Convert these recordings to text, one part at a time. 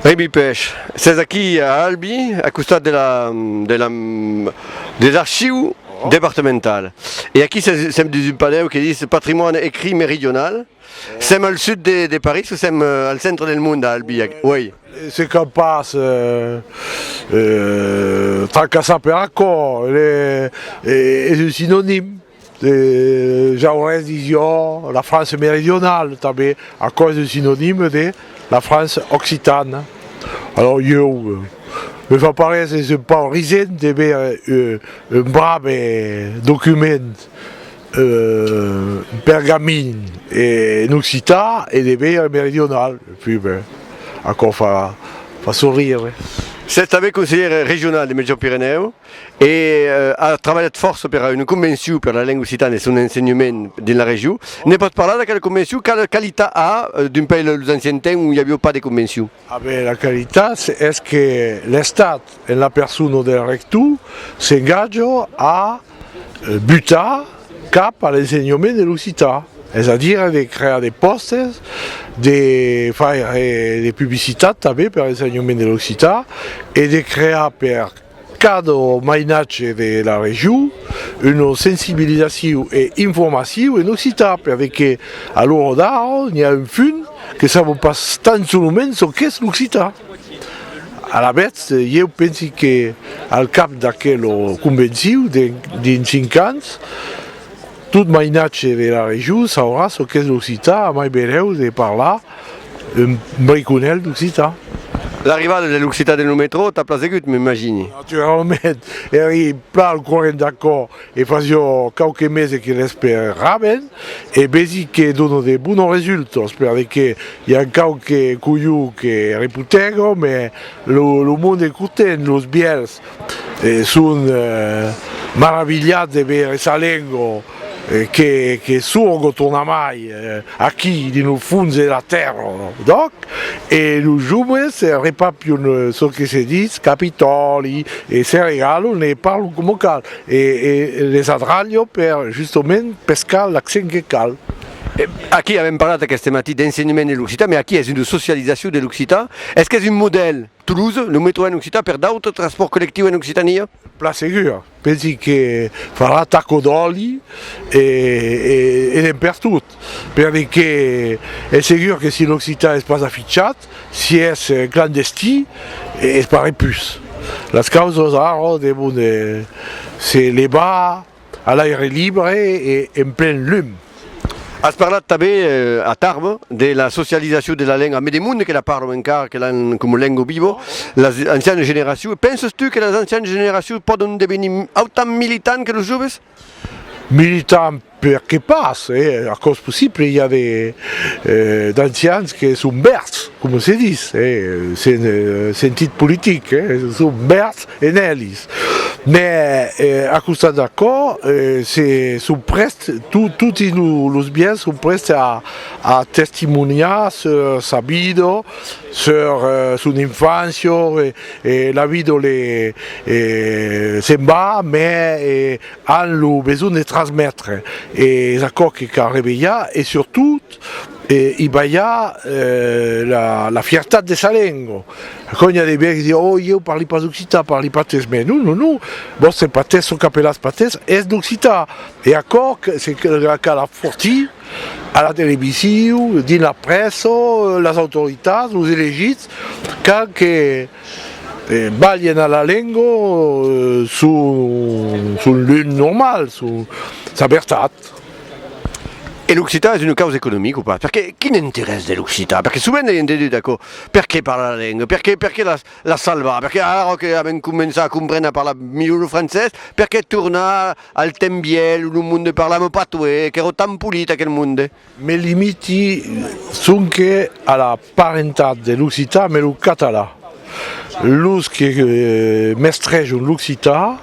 Ribi Pech, s'es aquí a Albi, a costat de la de la des archius departemental. E aquí sèm dins un panèu que dis Patrimoine écrit méridional. Sèm al sud de de París o sèm al centre del mond a Albi? Uèi. Se qu'a pas tracassar per aquò, es un sinonim. Le Jaurès disión la France meridionale, tanben aquò es un sinonime de la France occitane. Alòs ieu me fa parer s'es un pauc risent de veire un brave document pergamin en occitan e de veire en meridional, puèi ben, aquò fa sorrire. S'es tanben conselhèr regional de Mètge-Pirenèu. e a trabalhat fòrça per a una convencion per la lenga occitana e son ensenhament dins la region. Ne pòt parlar d'aquela convencion? Quala qualitat a d'un país de los anciens temps ont i aviá pas de convencion? A ben, la qualitat es que l'Estat, en la persona del rector, s'engatja a butar cap a l'ensenhament de l'occitan, es a dire de crear de pòstes, de faire de publicitat tanben per l'ensenhament de l'occitan e de crear per Cadre mainatge de la region, una sensibilizaciu e informaciu en occitan per vequer a l'ora d'ara n'i a un punt que savon pas tan solament çò qu'es l'occitan. Alavetz, ieu pensi que al cap d'aquela convenciu, dins cinc ans, tot mainatge de la region saurà çò qu'es l'occitan a mai benlèu de parlar Un briconèl d'occitan. L'arrivada de l'occitan dins lo metrò t'a plasegut, m'imagini? Naturalament, èri plan al corrent d'aquò e fasió quauques meses que l'esperaven e vesi que dona de bonos resultos perle que i a quauques colhons que reputègon, mès lo monde content, los bièlhs. E son maravilhat de veire sa lengo que sorgo tornamai aquí dins lo fons de la tèrra d'òc e los joves repapion çò que se ditz capitòli e se regalon e parlon coma cal e les adralho per justament pescar l'accent que cal. Aquí avèm parlat aqueste matí d'ensenhament de l'occitan, mai aquí es una socializacion de l'occitan. Es qu'es un modèl? Toulouse, lo metro en occitan per d'autres transpòrts collectius en Occitània? Plan segur, pensi que farà taco d'òli e de pertot, perque es segur que si l'occitan es pas afichat, si es clandestin, es pas repus. Las causas ara devon se levar. A l'aire libre e en plen lum. As parlat tanben, a Tarbes, de la socializacion de la lenga, mes de monde que la parlon encara, que l'an coma lengo vivo, las ancianas generacions. Penses tu que las ancianas generacions pòdon devenir autant militants que los joves? Militants, per que pas? Aquò's possible, i a de d'ancians que son vèrds, coma se ditz, en sentit politic, son vèrds En elis. Mè a costat d'aquò, se son prèst, toti los biens son prèst a testimoniar sur sa vida, sur son infància, e la vida se'n va, mè an lo besonh de transmetre, e es aquò que cal revelhar, e surtot, E i balha la fiertat de sa lengo. Quand i a de biècs di, oh, ieu parli pas occitan, parli patés. Mès non, non, non, vòstre patés, çò qu'apelatz patés, es d'occitan. E aquò se cal afortir a la televisiu, dins la prèssa, las autoritats, los elegits, cal que balhen a la lengo son lum normal, sa vertat. E l'occitan es una causa economica o pas? Perqué? Quin interès de l'occitan? Perqué sovent ei entendut aquò, perqué parlar la lenga? Perqué? Perqué la la salvar? Perqué ara ara que avèm començat a comprene a parlar milhor lo francés, perqué tornar al temps vièlh lo monde parlava lo patois, qu'èra tan polit aquel monde? Mes limiti sonque a la. Parentat de l'occitan ambe lo catalan. Los que mestrejon l'occitan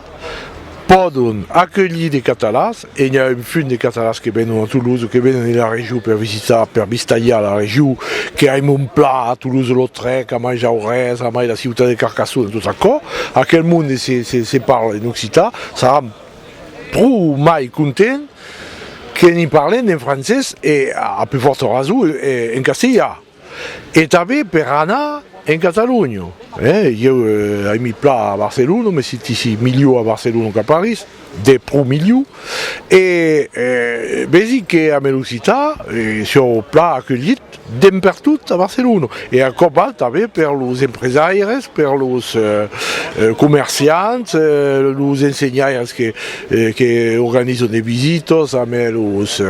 pòdon aculhir de catalans, e n'i a un punt de catalans que venon a Toulouse o que venon ena region per visitar, per vistalhar la region, que ai mon plan a Toulouse-Lautrec, a mai Jaurès, a mai la ciutat de Carcassona, tot aquò, aquel monde se parle en occitan, saram. Pro mai content que n'i parlen en francés e, a pus fòrta rason, en castilha. E tanben per anar en Catalonha. Ieu ai mi plan a Barcelona, me sentisi milhor a Barcelona qu'a París, de pro milhor. E vesi que a Melocità sieu plan aculhit. Dempertot a Barcelona e a còp alt tanben per los empresaires, per los comerciants, los ensenhaires que organizan de visitas amb los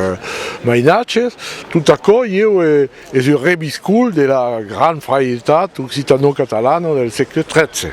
mainatges. Tot aquò ieu es un reviscol de la gran frairtat occitano-catalana del sègle 13.